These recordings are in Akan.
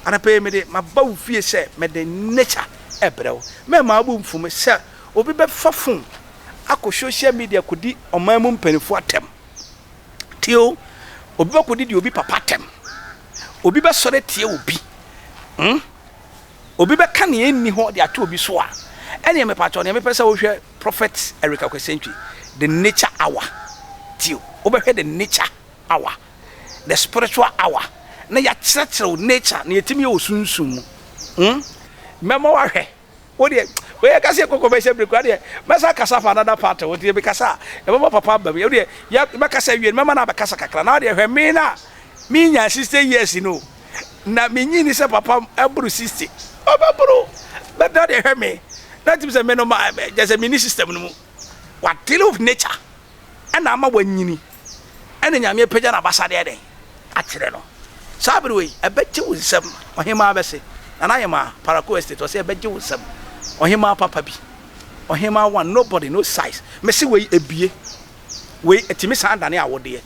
anapa yi mede maba wo fie sɛ mede nature ɛbrɛ wo mɛma abo mfom sɛ obi bɛfa fon akɔ social media kɔdi ɔman mu mpanimfoɔ atɛm tio obi bɛkɔdi deɛ obi papa atɛm obi bɛsɔre atia obi hmm? Obi bɛka nea enni hɔ de ato obi so a, ɛnneɛ mepatwɔ nea mepɛ sɛ wohwɛ Prophet Eric Akwesentwi The Nature Hour tio. Wobɛhwɛ The Nature Hour, The Spiritual Hour na yɛakyerɛkyerɛ wo nature, nea ɛtumi yɛ wɔ sunsum mu. Hmm. Mɛma woahwɛ. Wo deɛ, wei yɛka sɛ yɛkɔ commercial break koraa deɛ, mɛsan akasa afa another part ho, nti mekasa a, ɛbɛma papa aba mu. Wo deɛ, yɛ, mɛkasa awie no, mɛma no abɛkasa kakra. Na wo deɛ, hwɛ me no a menya 60 years no o. na minyinii sɛ papa aboro sixty, ɔbɛboro bɛda de hwɛ me na tim sɛ me no ma kyɛ sɛ mini system no mu. Wadele with nature ɛna ama wanyini ɛna Nyame apagya n'abasade ɛdɛn akyerɛ no. Saa bere wei ɛbɛgye wo nsam, Ɔhemaa bɛse, Nana Ayemaa, Parakou Estate, ɔse ɛbɛgye wo nsam, Ɔhemaa papa bi, Ɔhemaa one, nobody, no size, mese wei ebie. Wei, ɛtumi san dane awodeɛ.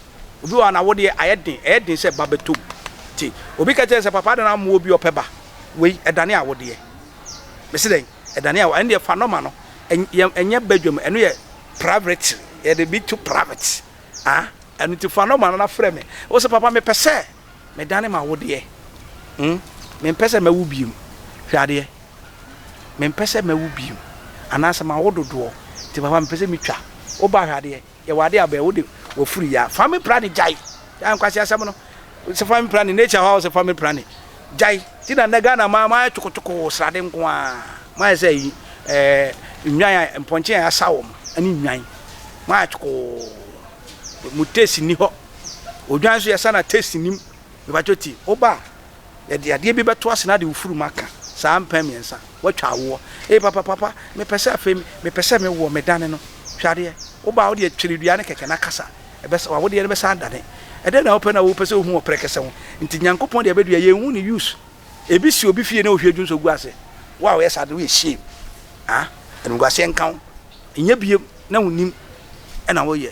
Obi wɔ hɔ a, n'awodeɛ ayɛ den, ɛyɛ den sɛ ba bɛtɔ mu. Nti, obi ka kyerɛ no sɛ, papa adɛn na wammoa obi a ɔpɛ ba? Wei, ɛdane awodeɛ. Mese dɛn? Ɛdane awodeɛ. Ɛno deɛ, fa nɔma no. Ɛn, ɛnyɛ badwam. Ɛno yɛ private. Yɛde bi to private. Ah, ɛno nti fa nɔma no na frɛ me. Wose, papa, mepɛ sɛ. Medane m'awodeɛ, hmm, Mempɛ sɛ mɛwo bio, hwɛ adeɛ, Mempɛ sɛ mɛwo bio, anaasɛ mawo dodoɔ, nti papa mepɛ sɛ metwa wo ba, hwɛ adeɛ, Yɛwɔ adeɛ a bɛɛ wode wafuru ya, family planning gyae, gyae nkwasi asɛm no, sɛ family planning nature hɔ a wɔsɛ family planning gyae, nti na nnɛ Ghana ma moayɛ tokotoko wɔ srade nko a, moayɛ sɛ ɛyi ɛɛ nnwan a mpɔnkye a yɛasa wɔn ɛne nnwan, moayɛ tokoo, mo taste nni hɔ. Odwan nso yɛsa no a taste nnim. Mepakyɛ ti woba a yɛde adeɛ bi bɛto ase na de wo furu mu aka saa mpɛn mmiɛnsa woatwa awoɔ. Ee papa papa mepɛ sɛ afei mepɛ sɛ me woɔ me dane no hwɛ adeɛ woba a wode akyere dua no kɛkɛ na kasa ɛbɛsa wawodeɛ no bɛsan adane. Ɛdɛn na wopɛ na wopɛ sɛ wohu wɔ prɛkɛsɛ ho nti Nyankopɔn deɛ bɛdua yɛnhu ne use ebi si obi fie na ohwie dwu nso gu ase wo a woyɛ saa de woyɛ shame ah animguaseɛ nka wo nyɛ biem na wonnim ɛna woyɛ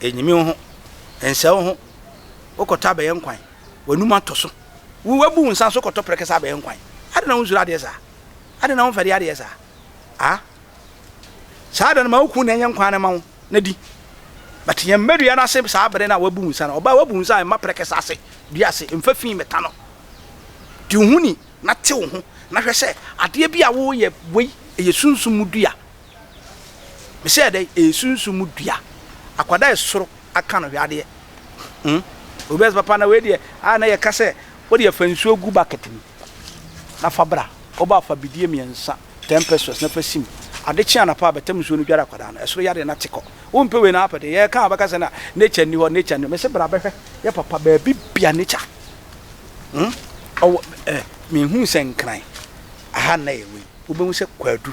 Ɛnyimi wo ho, ɛnsɛe wo ho. Wokɔtɔ abɛyɛ nkwan, w'anom atɔ so. Woabu wo nsa nso kɔtɔ prɛkɛsɛ abɛyɛ nkwan. Adɛn na wonsuro adeɛ saa? Adɛn na womfɛre adeɛ saa? A Saa da no, ma wo kunu na ɛnyɛ nkwan no mma wo na di. But yɛn mma dua no ase saa bere no a woabu wo nsa no. Ɔbaa, woabu wo nsa a, mma prɛkɛsɛ ase, dua ase. Mfa fi mmɛta no. Di wo ho ni na te wo ho, na hwɛ sɛ adeɛ bi a woreyɛ wei, ɛyɛ sunsum mu dua. Me sɛ dɛ ɛyɛ sunsum mu dua. Akwa dɛ soro aka no hwɛ adeɛ hmm obi bɛ sɛ papa na wei deɛ a na yɛka sɛ wodeɛ fa nsuo gu bucket mu na fa bra woba a fa bidie mmiɛnsa ten pesewas na fa sim ade kye anapa a bɛtam nsuo no dware akwadaa no ɛsoro yadeɛ na te kɔ wompɛ wei na apɛ deɛ yɛka a wobɛka sɛ na nature nni hɔ nature nni hɔ me se bra bɛhwɛ yɛ papa baabi bia nature hmm ɔwɔ eh menhuu sɛ nkran aha na yɛ wei wobɛhu sɛ kwadu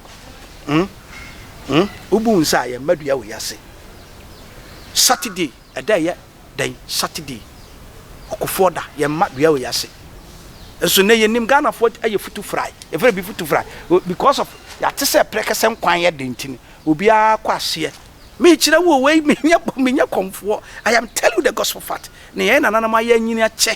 Hmm? Hmm? Wobu nsa a yɛmma dua wɔ yɛase. Saturday, ɛda ɛyɛ dɛn? Saturday, ɔkofoɔ da, yɛmma dua wɔ yɛase. Nso nɛ yɛnim Ghanafoɔ ayɛ futu frae, yɛfrɛ bi futu frae. Because of yɛate sɛ prɛkɛsɛ nkwan yɛ den nti no, obiara kɔ aseɛ. Mekyerɛ wo wei, menyɛ kɔmfoɔ. I am telling you the gospel fact. Ne yɛn nananom ayɛ anyini akyɛ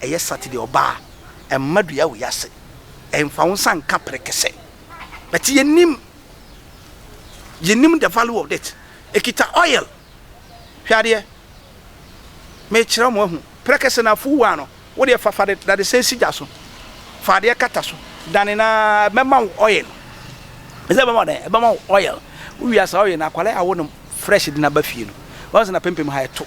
ɛyɛ Saturday ɔba a, ɛmma dua wɔ yɛn ase. Ɛmfa wo nsa nka perekese. But yɛnnim, yɛnnim the value of it. Ɛkita oil. Hwɛ adeɛ. Mekyerɛ mo ahu. Perekese no afuw waa no, wo deɛ fa fa de dadesɛn si gya so. Fa adeɛ kata so. Dane no ara, ɛbɛma wo oil. Ɛsɛ ɛbɛma wo dɛn? Ɛbɛma wo oil. Wowie a saa oil no, akwadaa a wonom fresh de no aba fie no, woahu sɛ n'apampam ha ɛto.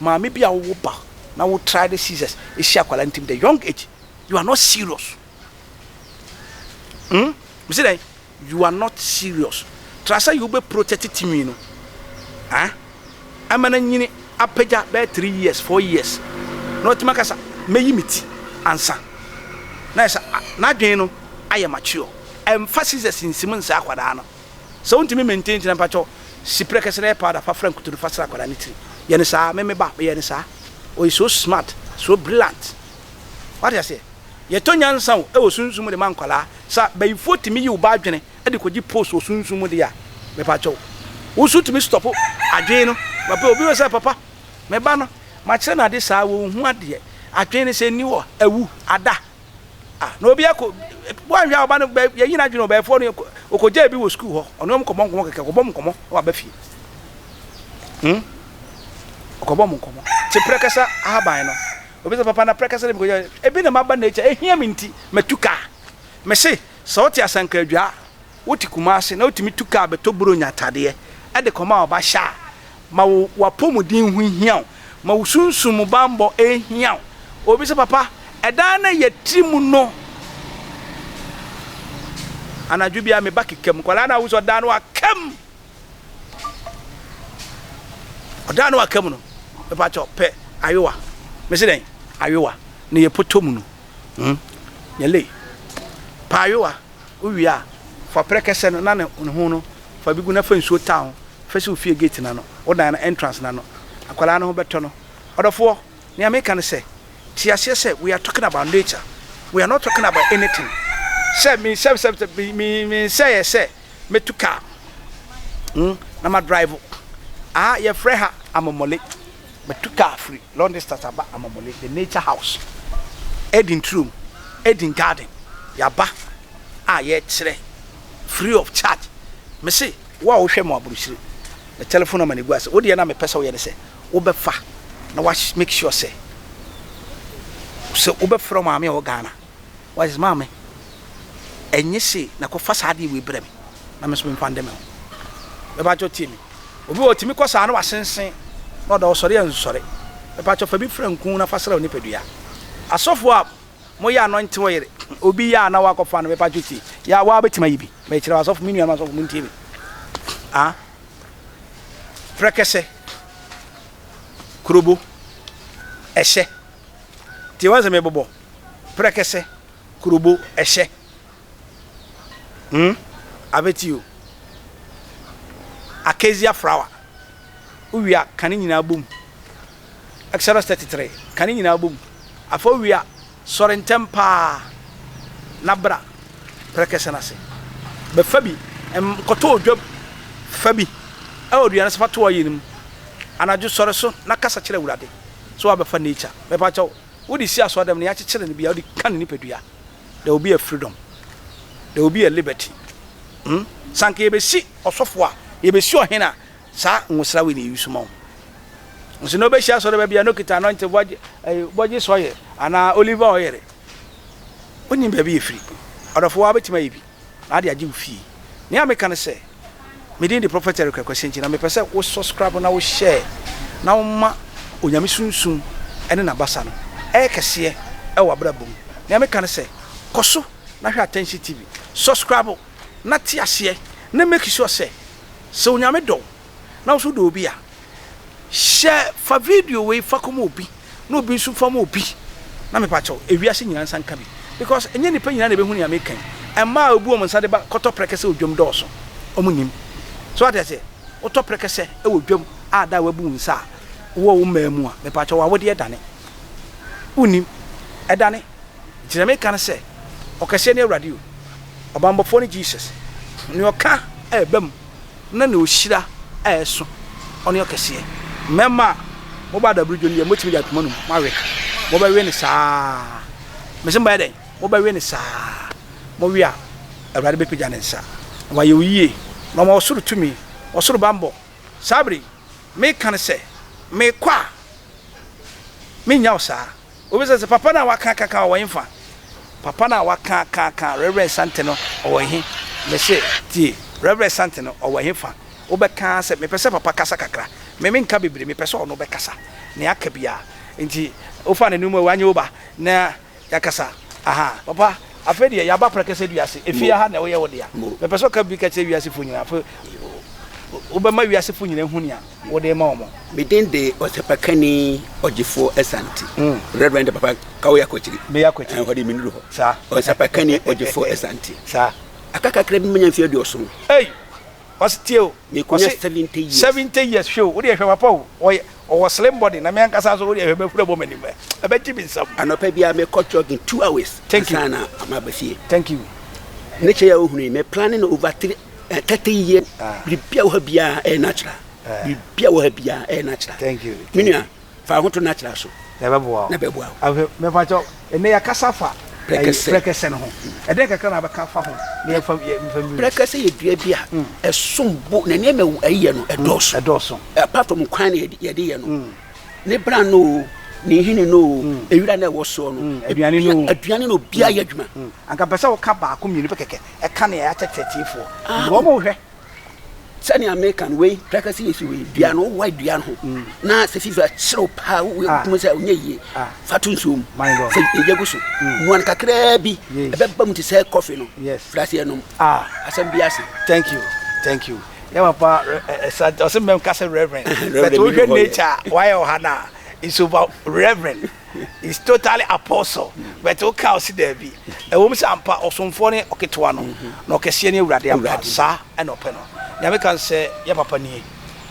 Maame bi a wo wo ba na wo try ne scissors si akwadaa ntim the young age you are not serious hmm mese dɛn you are not serious tra sɛ you bɛ protect tinwi no ah ɛma na nyini apagya bɛyɛ three years four years na ɔtumi aka sa mɛyi me ti ansa na ɛsɛ n'adwene no ayɛ mature ɛmfa scissors nsim nsɛ akwadaa no Sɛ wontumi maintain ntina mpakyɛw si prɛkɛse na yɛ powder fa fra nkutoo no fa sra akwadaa no tiri. Yɛ no saa. Me me ba meyɛ no saa. Ɔyɛ so smart, so brilliant. Wate aseɛ? Yɛtɔ nyansa o ɛwɔ sunsum mu de ma nkwadaa. Sɛ bayifoɔ tumi yi wo ba adwene de kɔgye post wɔ sunsum mu deɛ a, mepakyɛw wo nso tumi stop adwene no. Papa obi wɔ sɛ papa me ba no makyerɛ no ade saa wonhu adeɛ. Adwene no sɛ nni hɔ a awu, ada. Ah na obi akɔ wanhwɛ a ɔba no bɛ yɛnyi n'adwene o bɛɛfoɔ no ɔkɔgyaa bi wɔ sukuu hɔ ɔne wɔn kɔbɔ nkɔmɔ kɛkɛ ɔkɔbɔ mu nkɔmɔ na waba fie hmm ɔkɔbɔ mu nkɔmɔ te prɛkɛsa ahaban no obi sɛ papa na prɛkɛsa no bi kɔgyaa ebi na maba nature ehia me nti matu kaa mese sɛ ɔte asanka adwa Wote Kumase na wotumi tu kaa bɛtɔ Buronya atadeɛ de kɔma ɔba hyɛ a, ma wo w'apɔmuden ho nhia wo, ma wo sunsum mu bammɔ nhia wo. Obi sɛ, Papa, ɛdan no a yɛte mu no, anadwo biara me ba keka mu. Nkwadaa no ahu sɛ ɔdan no aka mu. Ɔdan no aka mu no, mepa kyɛ pɛ ayowa. Mese dɛn? Ayowa. Na yɛpotɔ mu no, hmm, nyɛ lei. Pɛ ayowa. Wowie a, fa prɛ kɛsɛ no na ne ne ho no fa bi gu na fa nsuo taa ho hwɛ sɛ wo fie gate no ano, wo dan no entrance no ano. Akwadaa no ho bɛtɔ no. Ɔdɔfoɔ, nea meka ne sɛ, te aseɛ sɛ we are talking about nature, we are not talking about anything sɛ me sɛ sɛ sɛ me me me nsɛeɛ sɛ mɛtu car hmm, na ma drive wo. Aha yɛfrɛ ha amomole. Matu kaa firi long distance aba Amamule the nature house, Eden turo mu, Eden garden, yɛaba a yɛrekyerɛ free of charge. Me se wo a wohwɛ mo aburokyire me telephone number na egu ase, wo deɛ na mepɛ sɛ woyɛ ne sɛ wobɛfa na wa make sure sɛ sɛ wobɛfrɛ wo maame a ɛwɔ Ghana, Wise maame, ɛnye se na kɔ fa saa adeɛ wei brɛ me na me nso me mfa nde me ho. Mepakyɛw tie me. Obi wɔ hɔ tumi kɔ saa na wasensen na ɔda hɔ sɔre a nsɔre. Mepakyɛw fa bi fra nku na fa sra wo nipadua. Asɔfoɔ a mo yɛ anointing oil obi yɛ a na wakɔ fa no mepakyɛw tie. Yɛ a waa bɛtumi ayi bi. Mekyerɛ wo asɔfo me nuanom asɔfo mo ntie me. Ah frɛkɛsɛ, krobo, ɛhyɛ. Tie w'asɛm yɛ bɔbɔ prɛkɛsɛ kurobo ɛhyɛ hmm abɛti o Acacia flower wowie a ka ne nyinaa bom Exodus 33 ka ne nyinaa bom Afei wowie a sɔre ntɛm paa na bra prɛkɛsɛ no ase Bɛfa bi ɛm kɔtɔ odwam Fa bi ɛwɔ dua no so fa to ɔyɛ no mu Anadwo sɔre so na kasa kyerɛ Awurade So wabɛfa nature? Mepa kyɛw, wode si asɔrdan mu na yɛakyekyere no bia wode ka ne nipadua? There will be a freedom. There will be a liberty. Hmm? Sɛ anka yɛbɛsi ɔsɔfo a, yɛbɛsi ɔhene a, saa nwosra wei na yɛyi so ma wo. Nso na wobɛhyia asɔre baabi a na okita anointing bɔgye, eh, bɔgye sɔyɛ, anaa olive oil. Wonim baabi yɛfiri. Ɔdɔfo, woa wobɛtumi ayɛ bi? na ade agye wo fie. Nea meka ne sɛ, me din de Prophet Eric Akwasi nti na mepɛ sɛ wo subscribe na wo share na woma Onyame sunsum ne n'abasa no ɛyɛ kɛseɛ wɔ w'abrabɔ mu. Nea meka ne sɛ, kɔ so na hwɛ Atɛnsi TV, subscribe na te aseɛ na make sure sɛ, sɛ Onyame dɔ wo, na wo nso wodɔ obi a, hyɛ fa video wei fa kɔma obi na obi nso fa ma obi na mepa kyɛw ewiase nyinaa nsa nka bi because ɛnyɛ nipa nyinaa na ebehu nea meka yi ɛmaa obu wɔn nsa de ba kɔtɔ prɛkɛsɛ odwam dɔɔso wɔn nim so ate aseɛ wotɔ prɛkɛsɛ ɛwɔ dwam a da a wabu wo nsa a wowɔ wo mmaa mu a mepa kyɛw awodeɛ ɛdane wonim ɛdane gyina meka no sɛ ɔkɛseɛ ne awurade o ɔbambɔfoɔ ne Jesus ne ɔka ɛbam na ne ohyira a ɛso ɔne ɔkɛseɛ. Mɛma mo ba dabere dwo no deɛ mobɛtumi de ato mo anom, moawe. Mobɛwe no saa ara. Mese moayɛ dɛn? Mobɛwe no saa ara. Mowe a, Awurade bɛpagya ne nsa, na wayɛ wo yie, na wama wo soro tumi, ɔsoro bammɔ. Saa berɛ yi, meka no sɛ, Mekɔ a, merennya wo saa. Wobisa sɛ, Papa no a wɔakaakaakaa ɔwɔ hefa? Papa no a wɔakaakaakaa Rev. Santen no ɔwɔ he? Mese, Tie, Rev. Santen no ɔwɔ hefa? Wobɛka ara sɛ, Mepɛ sɛ Papa kasa kakra. Me, menka bebree, mepɛ sɛ ɔno bɛkasa nea aka biara. Nti wofa n'anom a, wanyɛ wo ba na yɛakasa? Ahaa. Papa, afei deɛ yɛaba prɛkɛsɛ dua ase. Efie ha na woyɛ wo dea. Mepɛ sɛ woka biribi ka kyerɛ wiasefo nyinaa. Afei wobɛma wiasefo nyinaa ahu nea wode rema wɔn. Me din de ɔsɛpakani ɔgyefoɔ Asante, Rev. Papa Kawo Yakwakyiri, Bɛyɛ Akwakyiri. ɛhɔ de menuru hɔ. Saa. Ɔsɛpakani ɔgyefoɔ Asante, Saa. aka kakra bi na manya mfeɛ aduɔson, Ei! Ɔse tie o, mekɔnya ɔse 70 years. 70 years, hwɛ o, wodeɛ hwɛ papa o, ɔyɛ, ɔwɔ slim body, na me ankasa nso wodeɛ hwɛ mɛhuri abɔ m'anim, ɛ, ɛbɛgye me nsam. Anɔpa biara mekɔ jogging two hours Thank you. ansa na maba fie. Thank you. Ne kyɛ yi a wohunu yi, me planne no over three Ɛkɛtɛ yiye. Biribiara wɔ ha biara ɛyɛ natural. Biribiara wɔ ha biara ɛyɛ natural. Thank you. Me nua, fa wo ho to natural so. Na ɛbɛboa wo. Na ɛbɛboa wo. Afei, mepakyɛw, ɛnnɛ yɛakasa fa Prɛkɛsɛ. Prɛkɛsɛ no ho. Ɛdɛn kakra na wobɛka afa ho na yɛmfa yɛmfa mmienu. Prɛkɛsɛ yɛ dua bi a ɛsom bo na nneɛma a ɛyɛ no ɛdɔɔso. Ɛdɔɔso. Apart from kwan na yɛde yɛ no, ne bran no o, ne nhini no o, ewira na ɛwɔ soɔ no, aduane no o, aduane no obiara yɛ adwuma. Anka mpɛ sɛ woka baako mmienu pɛ kɛkɛ ɛka nea yɛakyɛ teteefoɔ. Ah, wɔn mo hwɛ sɛnea meka no wei prakasi yɛ si wei dua no wowa dua no ho mm. na sɛ fifa serew paa wokum sɛ ɔnyɛ yie ah. fa to nsuo mu sɛ ɛgya gu so mm. noa no kakraa bi ɛbɛba mu te sɛ kɔfe no frase ɛnom ah. asɛm bi ase thank you thank you yɛ papa ɛsɛ ɔsɛ mmɛm ka sɛ reverend but wohwɛ nature wayɛ ɔha no a it's about reverend He's totally apostle but wo ka ɔse daabi ɛwɔ mu sɛ ampa ɔsomfoɔ ne ɔketewa no na ɔkɛseɛ ne awurade ampa saa ɛna ɔpɛ no nea me ka nsɛ yɛ papa nie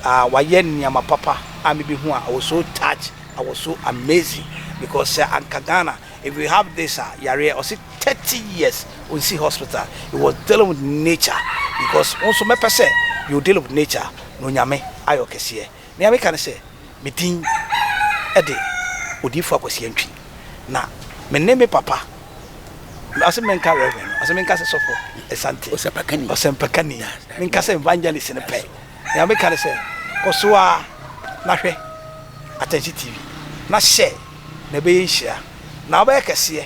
ah wayɛ nneɛma papa a me bɛ hu a I was so touch I was so amazing because sɛ anka Ghana if we have this a yareɛ ɔse 30 years ɔnsi hospital he was dealing with nature because wo nso mɛpɛ sɛ you deal with nature na onyame ayɛ ɔkɛseɛ. Nea meka ne sɛ, me din de Odiyifo Akwasi Antwi, na me ne me papa, ɔse menka Reverend no, ɔse menka sɛ Sɔfo Asante, Ɔsɛmpakani, Ɔsɛmpakani, menka sɛ Evangelist no pɛ. Nea meka ne sɛ, kɔ so ara na hwɛ Atɛnhye TV, na hyɛ na ɛbɛyɛ nhyira, na wobɛyɛ kɛseɛ.